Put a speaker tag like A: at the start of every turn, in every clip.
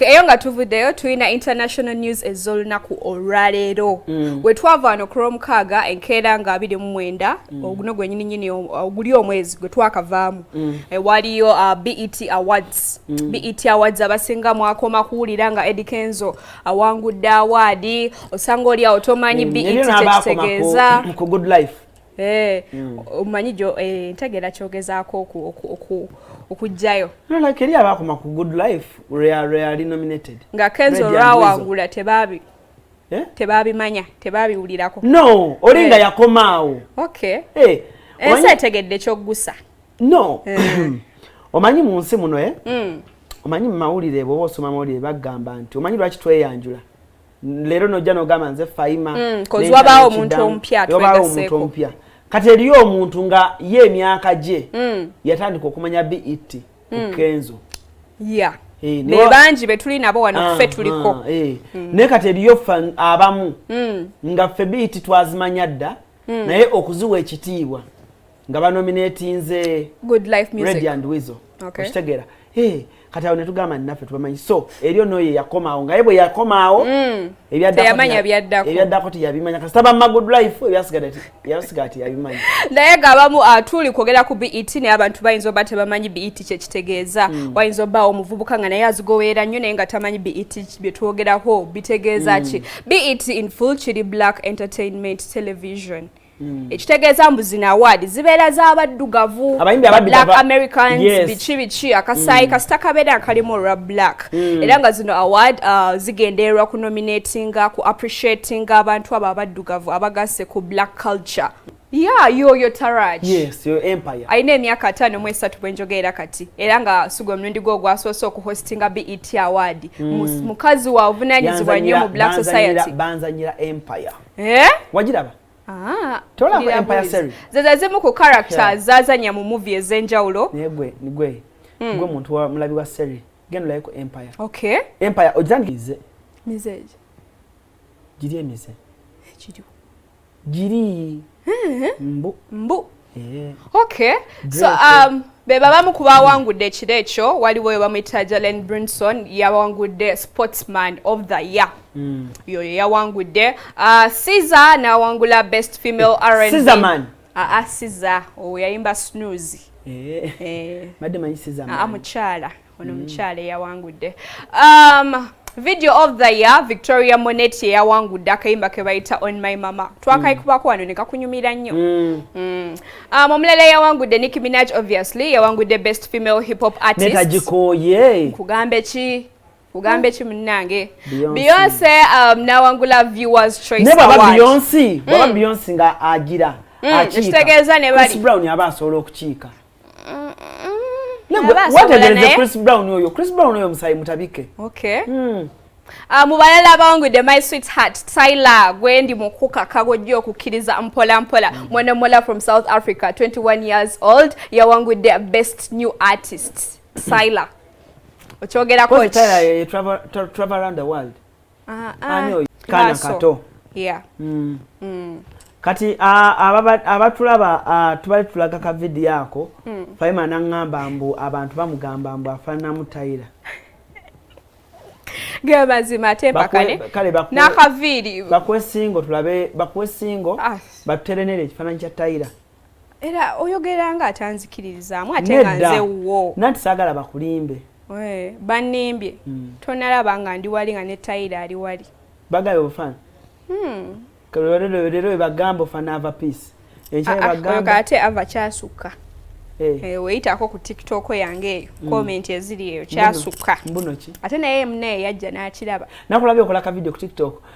A: eyo nga tuvuddeyo tulina international news ez'olunaku olwaleero mm. we twava wano ku lwomukaaga enkeera nga abiri mu mwenda mm. oguno gwenyini nyini oguli omwezi gwe twakavaamu mm. e, waliyo uh, bet awards mm. bet awards abasinga mwakoma kuwulira nga edi kenzo awangudde awaadi osanga oli awo tomanyi mm. bet kyekitegeeza
B: Eh,
A: mm. omanyi jo eh, ntegera kyogezaako okujjayo nolaka eri
B: abaakoma ku good life reali nominated nga kenzo
A: lwawangula tebabi eh? tebabimanya tebabiwulirako no oli nga
B: yakomaawo okay
A: ensi etegedde kyoggusa no
B: omanyi mu nsi muno e mm. omanyi mu mawulire bwoba osoma mawulire bagamba nti omanyi lwaki tweyanjula leero nojja nogamba nze faima mm, wabaawo omuntu
A: omupya wabaawo omuntu omupya kati eriyo
B: omuntu nga ye emyaka gye mm. yatandika okumanya bet mm. kukenzo yeah. hey, eh, ne bangi
A: betuli nabo wano ah, ffe tuliko ah, hey. Eh. mm. naye kati
B: eriyo ffe abamu mm. nga ffe bet twazimanya dda mm. naye okuziwa ekitiibwa nga banominatinze
A: redi and wizo
B: okitegeera eh, kati awo netugamba naffe tubamanyi so eryo noyo yakomaawo ngaye bwe yakomaawo mm. ebyaddako teyabimanya kasita bamma good life ebyasiga ti yabimanya naye nga abamu
A: ah, tuli kwogera ku bet naye abantu bayinza oba tebamanyi bet kyekitegeeza mm. wayinza obaawo omuvubuka nga naye azigoweera nnyo naye nga tamanyi bet byetwogerako bitegeeza mm. ki bet in full kiri black entertainment television mm. Mm. ekitegeeza mbu zino awaadi zibeera z'abaddugavu black americans yes. biki biki akasaayi mm. kasita kabeera kalimu olwa black mm. era nga zino award uh, zigendererwa ku nominatinga ku appreciatinga abantu abo abaddugavu abagasse ku black culture ya yoyo taraj yes, yo empire
B: alina emyaka ataano mu
A: esatu bwe njogeera kati era nga sigwe omulundi gwe ogwasoose okuhostinga bet award mm. mukazi wa obuvunanyizibwa nnyo mu black society banzanyira empire
B: eh? wagiraba ah,
A: tolaba empire series
B: zeza zimu ku character
A: yeah. zazanya mu movie ezenjawulo negwe nigwe
B: mm. gwe muntu wa mulabi wa serie genda like empire okay empire
A: ojanize
B: mize giri emize giri giri eh? mbu mbu Eh.
A: Okay. So um be babamu ku bawangudde ekiro ekyo waliwo oyo bamuyita jalen brinson yawangudde sportsman of the year mm. yoyo yawangudde uh, siza nawangula best female rnman aa ah,
B: ah, siza
A: oyo yayimba snoozi
B: eh. eh. ah, mukyala ono mm.
A: mukyala eyawangudde um, video of the year victoria monet yeyawangudde akayimba kebayita on my mama twakayikubako wano nekakunyumira nnyo mm. mm. um, omulala yawangudde nick minaj obviously yawangudde best female hip hop artistagikoye
B: nkugambe
A: ki ugambe ki munange beyonce um, nawangula viewers choice ne baba beyonce
B: baba mm. beyonce nga agira mm, akitegeeza
A: ne bali brown aba asobola
B: okukiika wetegereze chris brown oyo chris brown oyo musayi mutabike okay.
A: mm. Uh, mu balala abawangudde my sweet heart tyler gwendi mukukaka gwojja okukkiriza mpola mpola mm. mwana mola from south africa 21 years old yawangudde best new artist tyler okyogerako
B: Ah, ah. ani oyo kaana kato mm. Mm. kati abatulaba tubali tulaga ka vidiyo ako mm. faima naŋŋamba mbu abantu bamugamba mbu afaananamu tayira
A: ge mazima ate mpakane n'akaviiri bakuwe singo
B: tulabe bakuwe singo ah. batuterenere ekifaananyi kya tayira era
A: oyogera nga atanzikiririzaamu ate nga nze wuwo nanti saagala bakulimbe
B: bannimbye
A: hmm. tonalaba nga ndi wali nga ne tayira ali wali bagabe obufana
B: hmm. lero webagamba ofana ava peace ekyebagamba ah, ah,
A: ate ava kyasukka Eh. Eh, weyitako ku tiktok yange eyo mm. comment eziri eyo kyasukka ate naye
B: mune yajja
A: nakiraba nakulabye okola ka video
B: ku tiktok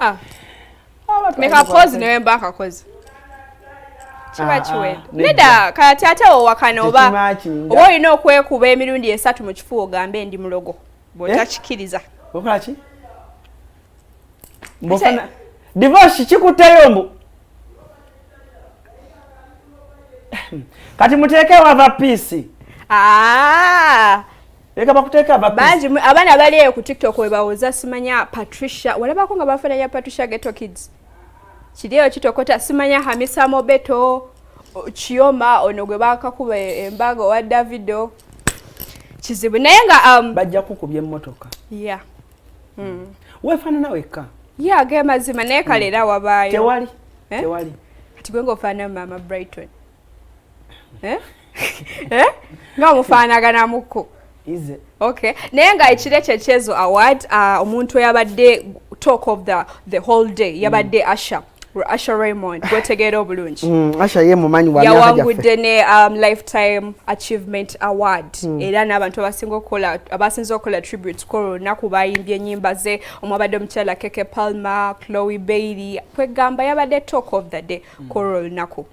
A: Ah. mekakozi nawe mba akakozi kiba ah, ah. kiwedde nedda kati ate owakana oba oba olina okwekuba emirundi esatu mu kifuba ogambe ndi mulogo bwotakikiriza eh?
B: divorce kikuteyo mbu kati muteekewo ava piisi ah. Leka bakuteka abapisi. Banji abana bali eyo ku
A: TikTok we bawoza simanya Patricia. Walaba ko nga bafana ya Patricia Ghetto Kids. Kiriyo kitokota simanya Hamisa Mobeto Chioma ono gwe bakakuba embago wa Davido. Kizibu naye nga um bajja kukubye mmotoka.
B: Yeah.
A: Mm.
B: mm. Wefana nawe ka. Yeah, ge mazima
A: naye kalera mm. wabayo. Tewali. Eh?
B: Tewali. Kati gwe ngofana
A: mama Brighton. eh? eh? nga omufaanaganamuko okay
B: naye
A: nga ekiro ekyo ekyezo award uh, omuntu eyabadde talk of the, the whole day yabadde mm. asha Asha Raymond gwetegeera obulungi mm, Asha ye mumanyi
B: wa yawangudde ne
A: um, lifetime achievement award mm. era n'abantu abasinga okukola abasinza okukola tribute ku lunaku bayimbye ennyimba ze omwabadde omukyala Keke Palmer Chloe Bailey kwegamba yabadde talk of the day mm. kwolwo olunaku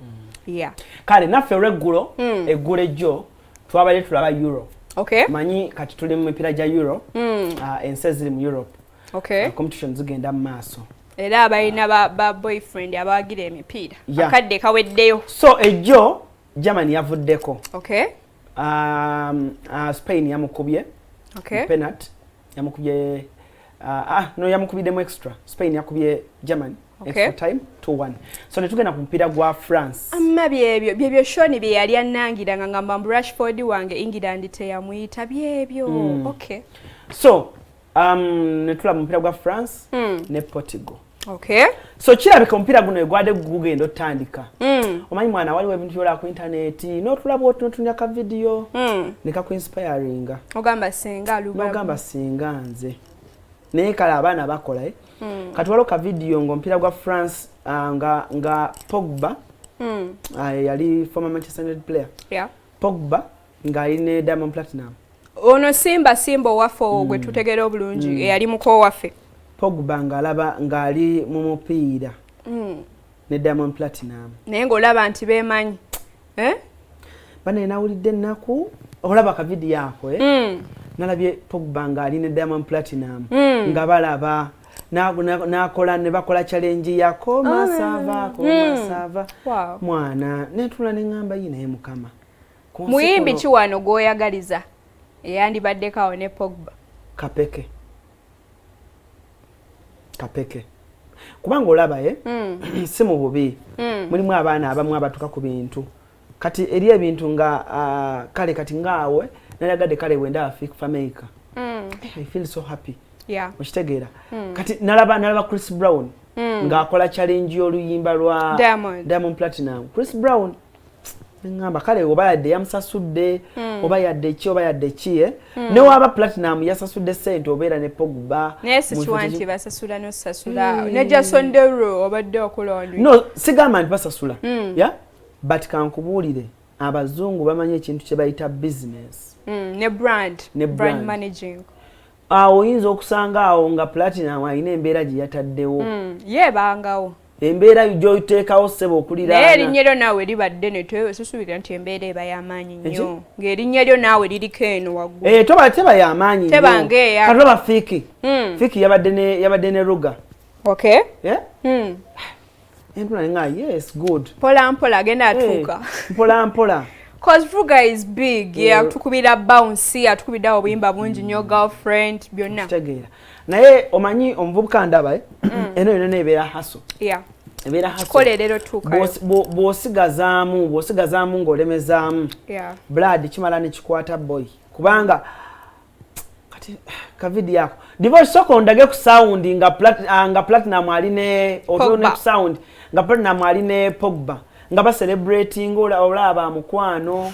A: mm. kale naffe
B: olweggulo mm. eggulo ejjo twabadde tulaba euro manyi
A: kati tuli mu
B: mipiira gya euro ah, ensi eziri mu europe ah, competition
A: zigenda mu
B: maaso era abalina
A: ba boyfriend abawagira emipiira akadde kaweddeyo so ejjo
B: germany yavuddeko
A: um, ah,
B: spain yamukubye penat yamukubye ah, ah, no yamukubiddemu extra spain yakubye germany okay. extra time
A: to one
B: so netugenda ku mupiira gwa france amma byebyo
A: byebyo shoni bye yali annangira nga ngamba mbu rashford wange england teyamuyita byebyo mm. okay so
B: um, netulaba mupiira gwa france mm. ne portugal okay.
A: so kirabika
B: omupiira guno egwade gugenda otandika mm. omanyi mwana waliwo ebintu byola ku intaneti notulaba oti notunya ka vidiyo mm. nekakuinspiringa ogamba singa
A: nogamba singa
B: nze naye kale abaana bakola eh? mm. kati waliwo ka vidiyo ngaomupiira gwa france uh, nga, nga pogba mm. uh, yali former manchester united player yeah. pogba ngali ne Diamond Platinum ono simba
A: simba owaffe owo gwe mm. tutegera obulungi mm. eyali muko waffe Pogba ngalaba
B: ngali mu mupiira mm. ne Diamond Platinum naye ng'olaba nti
A: bemanyi eh?
B: banaye nawulidde ennaku olaba ka vidiyo ako eh? mm. nalabye Pogba ngali ne Diamond Platinum mm. nga balaba nakola nebakola challenge yako masava ah. komasava mm. mwana netula nengamba yinaye mukama muyimbi
A: ki wano gwoyagaliza eyandibaddeko awo ne pogba kapeke kapeke kubanga olaba ye mm. si mu bubi mm. mulimu abaana abamu abatuka ku bintu kati eri ebintu nga uh, kale kati ngaawe nalagadde kale wenda afik fameica mm. i feel so happy yeah. okitegeera mm.
B: kati nalaba nalaba chris brown mm. ng'akola challenge y'oluyimba lwa diamond, diamond platinum chris brown ngamba kale oba yadde yamusasudde hmm. oba yadde ki oba yadde ki eh? hmm. newaaba platinum yasasudde sente obeera ne pogba naye sikiwa nti
A: basasula nosasula hmm. ne jason dero obadde okulonda no sigamba nti
B: basasula ya but kankubuulire abazungu bamanyi ekintu kye bayita business ne brand
A: ne brand managing awo
B: oyinza okusanga awo nga platinum alina embeera gye yataddewo hmm, yebangawo
A: embeera
B: gyoteekawo ssebo okuliraanaye erinnya lyo naawe liba
A: ddene tesusuubira nti embeera eba y'amaanyi nnyo ng'erinnya lyo naawe liriko eno waggulu eh, toba teba y'amaanyi
B: nyoatolaba
A: fiiki
B: hmm. fiiki yabadde ne ruga eh?
A: hmm.
B: Empula nga yes good. Pola mpola agenda eh,
A: atuuka. Hey, pola mpola.
B: Cause Vuga
A: is big. Yeah, yeah tukubira bounce, atukubira obuyimba bungi mm. nyo girlfriend byonna. Kitegeera. Naye
B: omanyi omuvubuka ndaba eh. Mm. Eno yona nebeera haso. Yeah. Ebeera haso.
A: Kole
B: lero tuka.
A: Bwosigazaamu, bwosigazaamu
B: ng'olemezaamu. Yeah. Blood
A: kimala ne
B: kikwata boy. Kubanga kati kavidi yako divo soko ondage ku sound nga plat ah, nga platinum ali ne otu ne sound nga platinum ali ne pogba nga ba celebrating ola ola ba mukwano